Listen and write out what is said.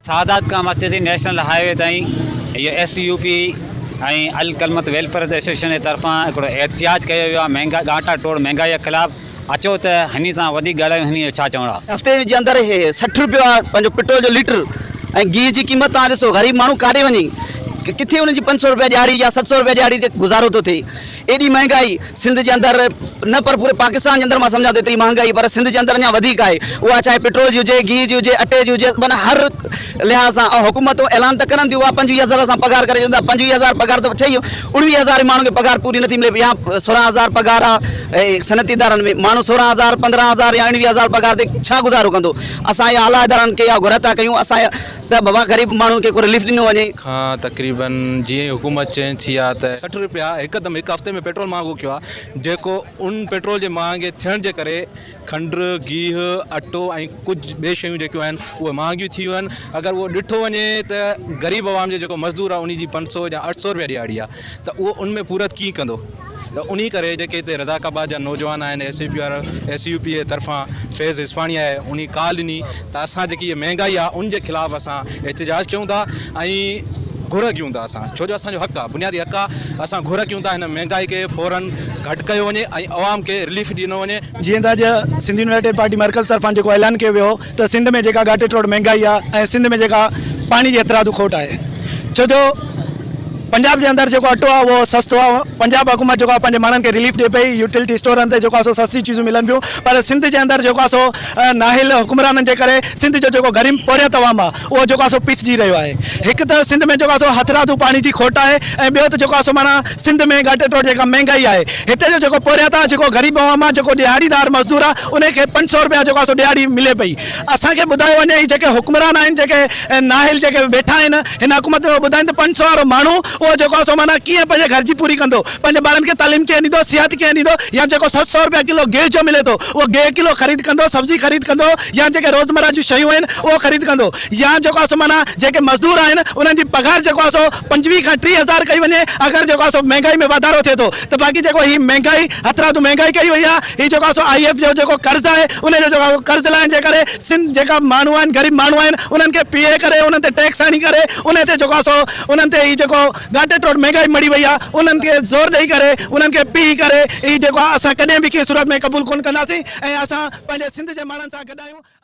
سادات کان وٺي سين نيشنل هاء وي تائين اهو ايس يو پي ۽ الڪلمت ويلفيئر ايسوسيئيشن جي طرفان هڪڙو احتجاج ڪيو ويو آهي مهنگا ڳاٽا ٽوڙ مهنگائي خلاف اچو ته ھني سان وڌيڪ ڳالھايون ھني جو ڇا چوڻ آ. ھفتي جي اندر ھي سٺ روپيو آ پنھنجو پٽرول جو ليٽر ۽ گيھه جي قيمت توھان ڏسو غريب ماڻھو ڪاڏي وڃي ڪٿي ان جي پنج سؤ روپيا ڏيھاڙي يا ست سؤ روپيا ڏيھاڙي تي گذارو ٿو ٿئي ايڏي مھانگائي سنڌ جي اندر نه پر پوري پاڪستان جي اندر مان سمجھان ٿو ايتري مھانگائي پر سنڌ جي اندر اڃان وڌيڪ آھي اھا چاھي پٽرول جي ھجي گيھه جي ھجي اٽي جي ھجي معنيٰ ھر لحاظ سان حڪومتون اعلان ته ڪرن ٿيون اها پنجويهه هزار اسان پگهار ڪري ڇڏيون ٿا پنجويهه هزار پگهار ته ٺهي اڻويهه هزار ماڻهن کي پگهار پوري نٿي ملي يا سورهن هزار پگهار آهي صنعتي ادارن ۾ ماڻهو سورهن هزار پندرهن هزار يا اڻويهه هزار پگهار تي ڇا گذارو ڪندو اسان اها اعليٰ ادارن کي اها گهر ٿا ڪيون اسان اها ته بابا غريب ماڻهن کي ڪو رليف ڏنو وڃي. کان تقريباً جيئن ئي حڪومت چينج ٿي آهي ته. سٺ رپيا هڪدم هڪ هفتي ۾ پيٽرول مهانگو ڪيو آهي جيڪو ان پيٽرول جي مهانگي ٿيڻ جي ڪري کنڊ، گيهه، اٽو ۽ ڪجهه ٻي شيون جيڪيون آهن اهي مهانگيون ٿي ويون آهن اگر اهو ڏٺو وڃي ته غريب عوام جو جيڪو مزدور آهي ان جي پنج سو يا اٺ سو رپيا ڏهاڙي آهي ته اهو ان ۾ پورت ڪيئن ڪندو ته انهي ڪري جيڪي هتي رضاق آباد جا نوجوان آهن ايس يو پي وارا ايس يو پي جي طرفان فيض اسفاڻي آهي انهي ڪال ڏني ته اسان جيڪي مهانگائي آهي ان جي خلاف اسان احتجاج ڪيون ٿا ۽ گهر ڪيون ٿا ڇو جو اسان جو حق آ، بنيادي حق آ، اسان گهر ڪيون ٿا هن مهنگائي کي فورن گهٽ ڪيو وڃي ۽ عوام کي رليف ڏنو وڃي. جيئن ته اڄ سنڌ يونائيٽيڊ پارٽي مرڪز طرفان جيڪو اعلان ڪيو ويو هو ته سنڌ ۾ جيڪا ڳاٽي ٽوڙ مهنگائي آ ۽ سنڌ ۾ جيڪا پاڻي جي هٿرادو کوٽ آهي ڇو جو پنجاب جي اندر جيڪو اٽو آ اهو سستو آ پنجاب حڪومت جيڪو آ پنهنجي ماڻهن کي رليف ڏي پئي يوٽيلٽي اسٽورن تي جيڪو آ سو سستي چيزون ملن پيون پر سنڌ جي اندر جيڪو آ سو نااهل حڪمرانن جي ڪري سنڌ جو جيڪو غريم پورهيت عوام آ اهو جيڪو آهي سو پسجي رهيو آهي. هڪ ته سنڌ ۾ جيڪو آهي سو هٿرادو پاڻي جي کوٽ آهي ۽ ٻيو ته جيڪو آهي سو معنيٰ سنڌ ۾ ڳاٽي ٽوڙ جيڪا مهنگائي آهي. هتي جو جيڪو پورهيتا جيڪو غريب عوام آهي جيڪو ڏهاڙيدار مزدور آهي ان کي پنج سؤ رپيا جيڪو آهي سو ڏهاڙي ملي پئي. اسان کي ٻڌايو وڃي هي جيڪي حڪمران آهن جيڪي نااهل جيڪي ويٺا آهن هن حڪومت ۾ اهو ٻڌائين ته پنج سؤ وارو ماڻهو اهو جيڪو آهي سو معنيٰ ڪيئن پنهنجي گهر جي پوري ڪندو؟ پنهنجي ٻارن کي تعليم ڪيئن ڏيندو؟ صحت ڪيئن ڏيندو؟ يا جيڪو ست سؤ رپيا ڪلو گيس جو ملي ٿو اهو گيهه ڪلو خريد ڪندو سبزي خريد ڪندو؟ يا جيڪي روزمره جون شيون آهن اهو خريد ڪندو يا جيڪو آهي سو معنيٰ جيڪي مزدور آهن انهن جي پگهار جيڪو آهي سو پنجويهه کان ٽيهه هزار ڪئي وڃي اگر جيڪو آهي سو مهنگائي ۾ واڌارو ٿئي ٿو ته باقي جيڪو هي مهنگائي هٿرادو مهنگائي ڪئي وئي آهي هي جيڪو آهي سو آء ايف جو جيڪو قرض آهي ان جو جيڪو قرض لاهڻ جي ڪري سنڌ جيڪا ماڻهو آهن غريب ماڻهو آهن انهن کي پيهي ڪري انهن تي ٽيڪس هڻي ڪري انهن تي جيڪو آهي سو انهن تي هي جيڪو گهاٽي ٽوڙ مهنگائي مڙي وئي آ انهن کي زور ڏئي ڪري انهن کي پيهي ڪري هي جيڪو آ اسان ڪڏهن به ڪنهن صورت ۾ قبول ڪونه ڪنداسين ۽ اسان پنهنجي سنڌ جي ماڻهن سان گڏ آهيون.